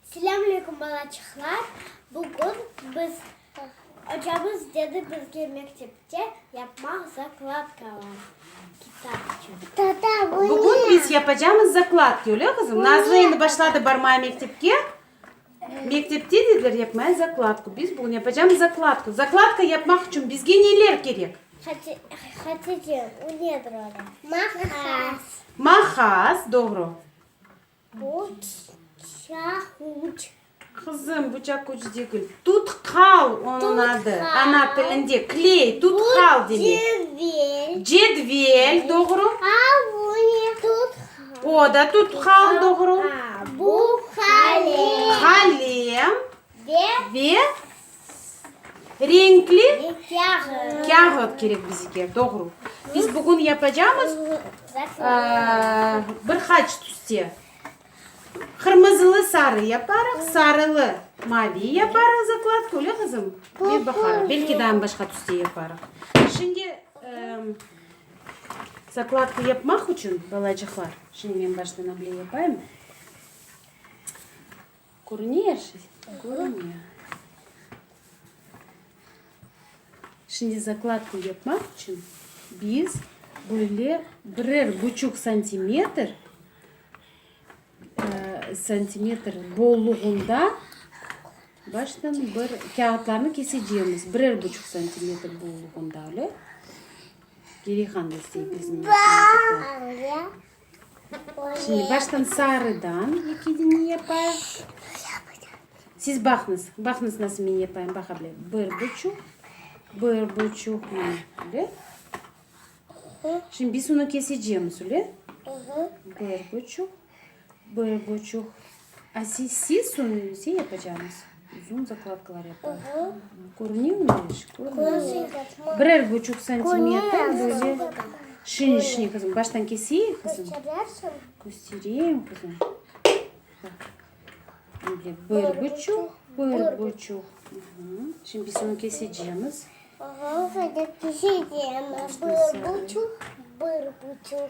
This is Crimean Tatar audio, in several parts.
Selâm aleykum balaçıqlar, bugün biz ocamız dedi bizge mektepte yapmaq zakladkalar kitap içün. Bugün biz yapacamız zakladki öyle qızım? Nazlı endi başladı barmaya mektepke. Mektepte dediler yapmaya zakladku. Biz bugün yapacamız zakladku. Zakladka yapmaq içün bizge neler kerek? Hati- Hatice, o nedir öyle? Maqas. Maqas, doğru. Buçaq uç. Qızım, buçaq uç degil. Tutkal onıñ adı. Ana tilinde kley, tutkal demek. Cedvel. Cedvel, doğru. A bu ne? Tutkal. O da tutkal, doğru. Bu qalem. Qalem. Ve. Ve. Renkli kâğıt kerek bizge, doğru. Biz bugün yapacağımız bir haç tüste. Qırmızılı sarı yaparıq, sarılı mavi yaparıq zakladka, öyle qızım? Ve baqarıq, belki daha başqa tüste yaparıq. Şimdi zakladka yapmaq için, balacıqlar, şimdi men baştan able yapayım. Körüne er şey? Körüne. Şimdi zakladka yapmaq içün biz böyle birer buçuq santimetr santimetr bolluğında baştan bir kâğıtlarnı keseceğimiz. Birer buçuq santimetr bolluğında öyle. Geriğandı istey bizim. Şimdi baştan sarıdan ekide ne yapayıq? Siz baqnıs, baqnıs nasıl men yapayım, baq able. Bir buçuq, bir buçuq, mine, ble. Şimdi biz onı kesecemiz, ble. Bir buçuq, bir buçuq. Aziz, siz onı özel yapacağıñız? Uzun zakladkalar yapar. Körünüv mü eşik? Körünüv. Birer buçuq santimetr böyle şirin şirin kızım. Baştan keseyim kızım. Göstereyim kızım. Bak. Böyle bir buçuq, bir buçuq. Şimdi biz onu keseceğimiz. Aha, keseceğimiz. Bir buçuq, bir buçuq.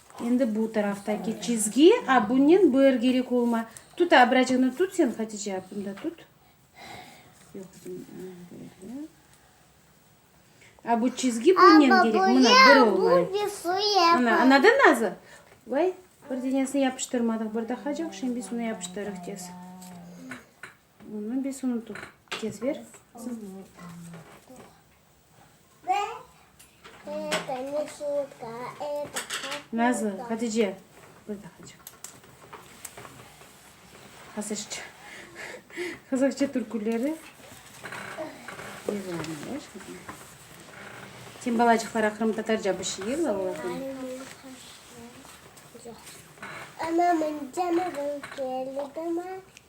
Endi bu taraftaki çizgi, a bunnen bır gerek olma. Tut a, biracığını tut sen, Hatice a, bunda tut. Yoq, böyle. A bu çizgi bunnen gerek, mına bır olmay. Ana, anadan nazı? Vay, bir denesini yapıştırmadıq, bir daha caq, şimdi suni yapıştırıq tez. Bunı biz unutuv. Tez ber. Nazlı, Hatice. Burada Hatice. Hazırca. Hazırca türküleri. Sen balacıqlara Qırım Tatarca bir şey yığla olardan. Anamın canı gülkeli dama.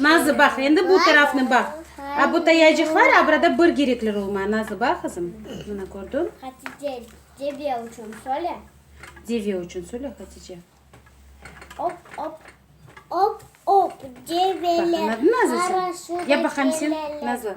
Nazı, baq, endi bu tarafnı baq. A bu tayacıqlar a burada bir gerekler olmay, Nazı, bax, qızım. Mına, kördiñ? Hatice, deve uçün söyle. Deve uçün söyle, Hatice. Op, op. Op, op, develer. Bax, anladın, Nazı, sen? Yap baqayım sen, Nazı.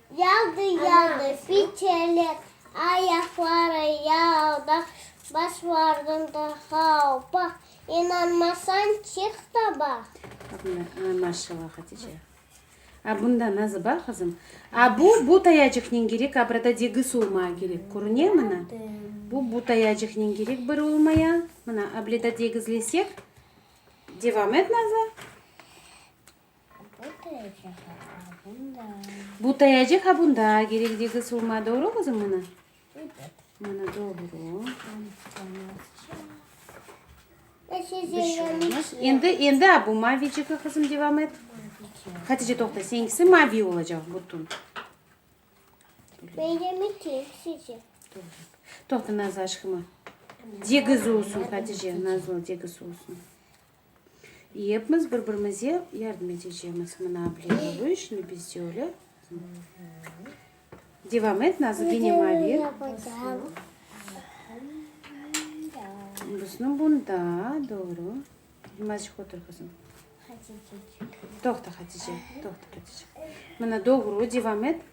Yağdı, yağdı fiçeler, ayaqları yalda, Baş vardım da havpa, inanmasañ, çık da baq. Bundan, maşallah, Hatice. A bunda nazı bar, qızım? A bu, bu tayacıqnen kerek, a burada degis olmaya kerek, körüne, mına? Bu, bu tayacıqnen kerek bir olmaya, mına, ableda degizlesek. Devam et, nazı. Bu tayacık ha bunda gerekdigi summa, doğru qızım mına? Mına doğru. Endi, endi ha bu maviciki qızım devam et. Hatice toqta, senkisi mavi olacaq bütün. Benim için sizi. Toqta Nazlı aşkıma. Degiz olsun Hatice, Nazlı degiz olsun. Yepmiz bir-birimize yardım etecemiz. Mına bile oluy, şimdi biz de öyle. Devam et, Nazlı, gene mavi. Buznu bunda, doğru. Birazcık otur kızım. Toqta Hatice, toqta Hatice. Mına doğru, devam et.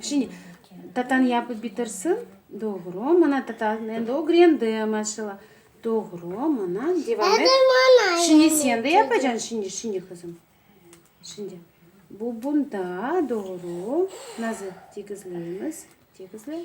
Şimdi tatanı yapıp bitirsin. Doğru. Mana tatanı endi ögrendim, maşallah. Doğru. Mana devam et. Şimdi sen de yapacaksın. Şimdi, şimdi qızım. Şimdi. Bu bunda. Doğru. Nazır. Tegizleymiz. Tegizle.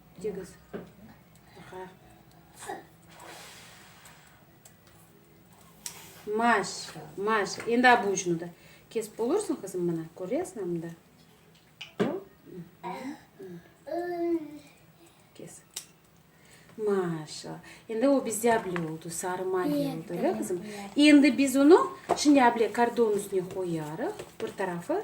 Digiz, qa. Maşa, maşa. Endi ab ucunu da kesip olursıñ, qızım, mına, köresin, mında. Kes. Maşa. Endi o bizde able oldu, sarı maliye oldu, öyle, qızım? Endi biz onu şimdi able kordon üstüne qoyarıq, bir tarafı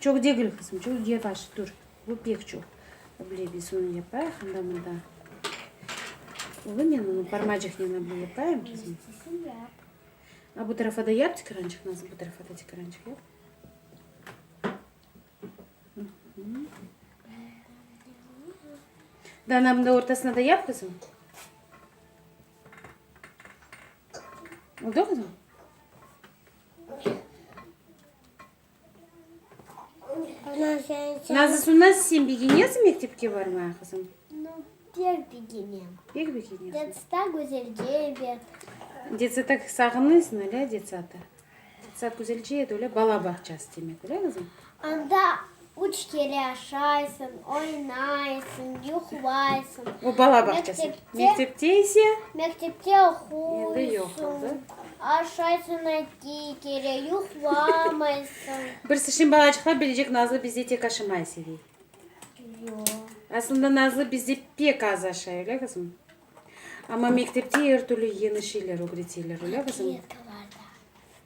Çoq degil, qızım, çoq yavaş tur. Bu pek çoq. Ble, biz onı yapayıq, anda, mında. Olınen onı parmacıqnen ble yapayım, qızım. A bu tarafa da yap tikrançıq, Nazlı, bu tarafa da tikrançıq yap. Dana, mında ortasına da yap, qızım. Oldu, qızım? Nazis, bundan sen begenesiñ mektepke barmağa, qızım? Pek begenem. Pek begenesiñ? Detsada güzelce edi. Detsada sağınıysıñ, öyle? Detsada. Detsada güzelce edi, öyle? Bala bağçası demek, öyle, qızım? Anda üç kere aşaysıñ, oynaysıñ, yuqlaysıñ. O, bala bağçası. Mektepte ise? Mektepte oquysıñ, aşaysıñ eki kere, yuqlamaysıñ. Bir sıçrın balacıqlar bilecek Nazlı bizde tek aşamay sevey. Yoq. Aslında Nazlı bizde pek az aşay, öyle qızım? Amma mektepte er türlü yeñi şeyler ögreteler, öyle qızım? Kletkalarda.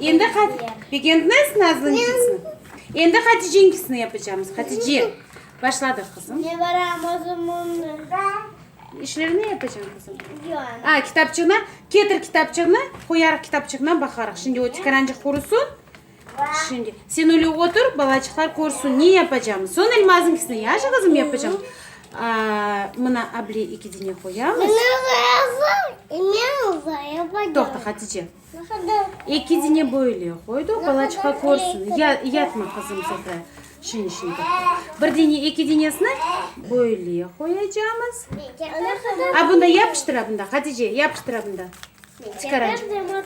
Endi Hat, begendiniz mi azıncısını? Endi Haticeninkisini yapacağımız. Hatice, başladıq qızım. Ne varam özümüni. İşlerini yapacağım qızım. Yok. A, kitapçığına, ketir kitapçığına, qoyarıq kitapçığına baqarıq. Şimdi o tikarancıq qurusun. Şimdi sen öyle otur, balacıqlar korsün, ne yapacağımız. Son elmazınkisini yaşı qızım yapacağım. A, mına able iki dine qoyamız. Mına qoyasın, inen uzaya bacağım. Toqta, Hatice. Eki dine böyle qoydu, bala çıqa körsin. Yatma, qızım, Zehra, şeñ işin toqta. Bir dine, eki dinesini böyle qoyacamız. A bunda yapıştır, a bunda, Hatice, yapıştır, a bunda. Çıqara,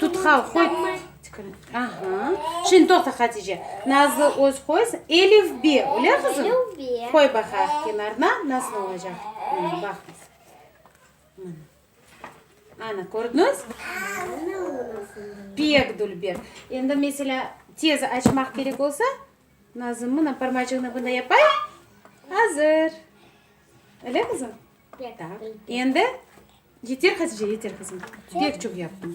tutqal qoy. Aha, şeñ toqta, Hatice. Nazlı öz qoysın. Elif, be, öyle, qızım? Qoy baqaq kenarına, nasıl olacaq. Baqınız. Ana, kördiñiz? Pek dülber. Endi, meselâ, tez açmaq kerek olsa, Nazım, mına, parmacığını bunday yapayıq. Azır. Ele, qızım? Taq. Endi, yeter, Hatice, yeter, qızım. Pek çoq yaptıñ.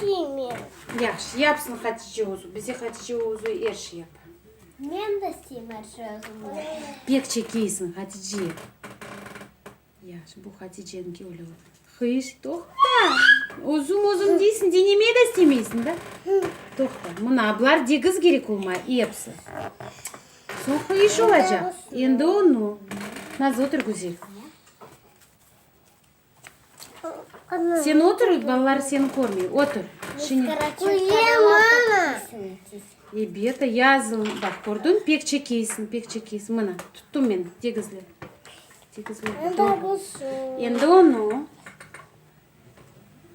Kime? Yahşı, yapsın Hatice özü. Bize Hatice özü er şey yapa. Men de isteyim er şey özüm yapsın. Pek çekeysin Hatice. Yahşı, bu Haticeniñki öyle oldu. Hıyş, toqta. Özüm özüm deysin, denemey de istemeysin, da? Toqta. Mına ablar degiz gerek olmay, epsi. Soñ hıyş olacaq. Endi onu. Nazlı, otur güzel. Sen otur, balalar seni körmey. Otur. Ebet, yazılı. Baq, kördün, pek çekeysiñ, pek çekeysiñ. Mına, tuttım men, tegizle. Tegizle. Endi onu.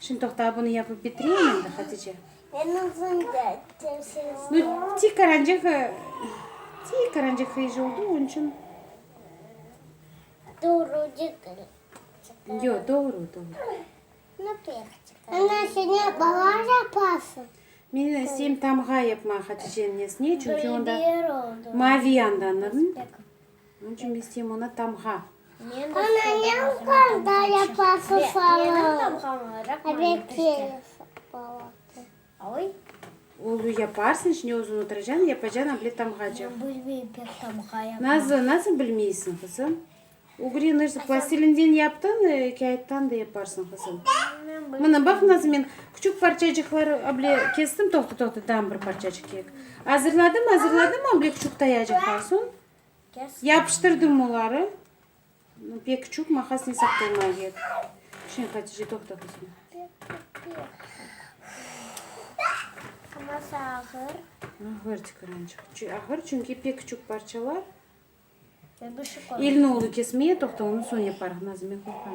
Şimdi toqta, bunı yapıp bitireyim endi, Hatice. Nu, tik qarancıqı, tik qarancıqı iş oldı, onıñ içün. Yo, doğru, doğru. Ana, sen ne bala yapasıñ? Men isteyim tamğa yapmağa Haticenin nesine, çünki onda mavi yandanırn. Onıñ içün biz tiyim onı tamğa. Olu yaparsıñ, içine özüñ otıracan, yapacan able tamğacıq. Nazlı, nasıl bilmeysiñ, qızım? Ugri nırsı plastilinden yaptıñ, kâğıttan da yaparsıñ, qızım. Mına, baq, Nazlı, men küçük parçacıqlar able kestim, toqta, toqta, dam bir parçacıq kek. Azırladım, azırladım able küçük tayacıqlar, soñ. Yapıştırdım oları. Pek çuk maqas ne saqlama gerek. Şimdi Hatice toqta qızım. Aması ağır. Ağır tıkırançıq. Ağır çünki pek çuk parçalar. Elini olu kesmeye toqta onu son yaparıq. Nazime qoyqan.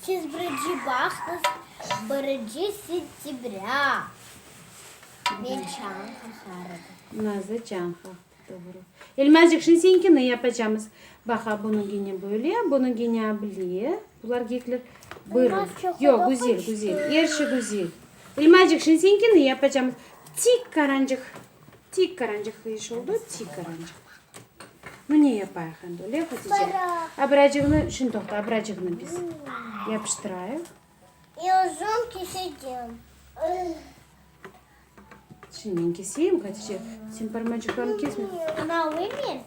Siz birinci bağsız, birinci sentyabrâ. Men çañ qaharım. Nazı çañ qah. Doğru. Elmazcıq, şimdi seninkini yapacamız. Baqa, bunıñ gene böyle, bunıñ gene ablye. Bular gekler bırı. Elmaz çoquda Yoq, güzel, qoştı. güzel. Er şey güzel. Elmazcıq, şimdi seninkini yapacamız. Tik qarancıq. Tik qarancıq iş oldı, tik qarancıq. Nu, ne yapayıq endi, öyle, Hatice? Abracığını, şimdi toqta, abracığını biz yapıştırayıq. İ uzun keseceğim. Şimdi men keseyim, Hatice, sen parmacıqlarını kesme. Ana, alayım men?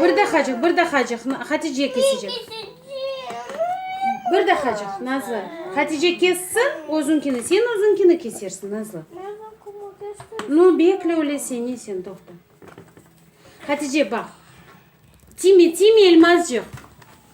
Bir dahacıq, bir dahacıq, Hatice kesecek. Bir dahacıq, Nazlı. Hatice kessin, özünkini, sen özünkini kesersin, Nazlı. Ну, bekle öyleyse, ne sen, toqta. Hatice, baq. Tiyme, tiyme, elmazcıq.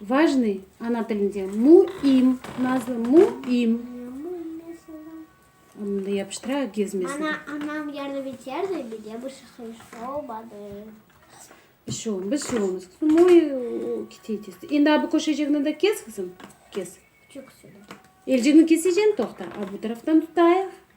Vajnıy, ana tilinde, mu im, nazlı, mu im. Onı da yapıştıra, gezmesin. Ana, anam yardım eterdi, mine bir şey olmadı. Bir şey olmaz, bir şey olmaz. Kızım, oy, kite tez. Endi abi koşacağını da kes, kızım, kes. Çok söyle. Elcini keseceğim, toqta. A bu taraftan tutayıq.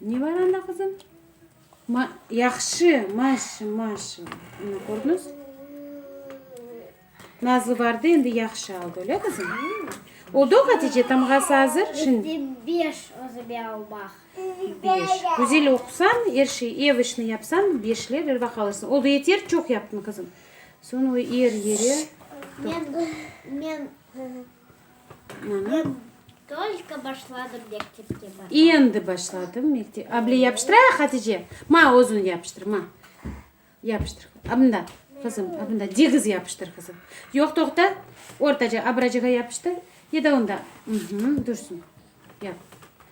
Ne bar anda, qızım? Ma, yahşı, maşı, maşı. Ana, kördiñiz? Nazlı bardı, endi yahşı aldı, öyle, qızım? Oldu, Hatice, tamğası azır, şimdi. Endi beş özüme almaq. Beş. Güzel oqusañ, er şey, ev işini yapsañ, beşler er vaqıt alırsıñ. Oldu, yeter, çoq yaptıñ, qızım. Soñ o er yere. Men, men. Men tolko başladım mektepke barmağa. Endi başladım mektep. A, bile yapıştırayıq, Hatice? Ma, özün yapıştır, ma. Yapıştır. A, mında, qızım, a, mında, degiz yapıştır, qızım. Yoq, toqta, ortaca abracığa yapıştır. Ya da onda, mh, dursın. Yap.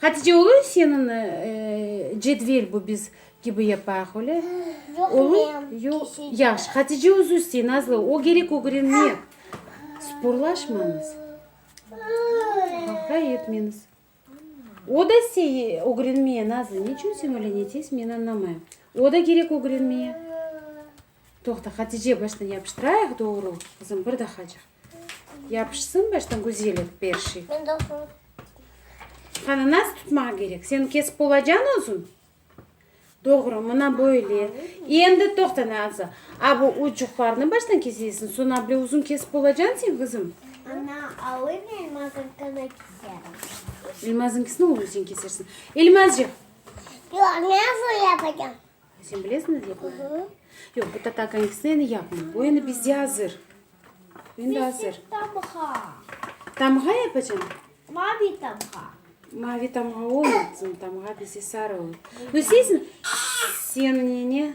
Hatice ulu senin cedvel bu biz kibi yapayıq öyle. Ulu yahşı Hatice uzusti nazlı o gerek ögrenmek sporlaşmañız haqay etmeniz o da se ögrenmeye nazlı ne içün sen öyle ne tez men anlamayım o da gerek ögrenmeye. Toqta, Hatice, baştan yapıştırayıq, doğru, qızım, bir dahacıq. Yapışsın baştan güzel et per şey. Men doğru. Qani, nasıl tutmaq kerek? Sen kesip olacan özün? Doğru, mına böyle. Endi toqta, Naza. A bu ucuqlarını baştan kesesiñ, soñra bile uzun kesip olacan sen, qızım? Ana, alıy men Elmazınkını keserim. Elmazınkisini oğlum sen kesersiñ. Elmazcıq! Yoq, men uzun yapacam. Sen bilesiñiz yapmayı? Yoq, bu tatar konfisini endi yapmam. Bu endi bizde azır. Endi azır. Tamğa. Tamğa yapacağım. Mavi tamğa. Mavi tamğa olmaz. Tamğa bizde sarı olur. Bilseysiz, sen nene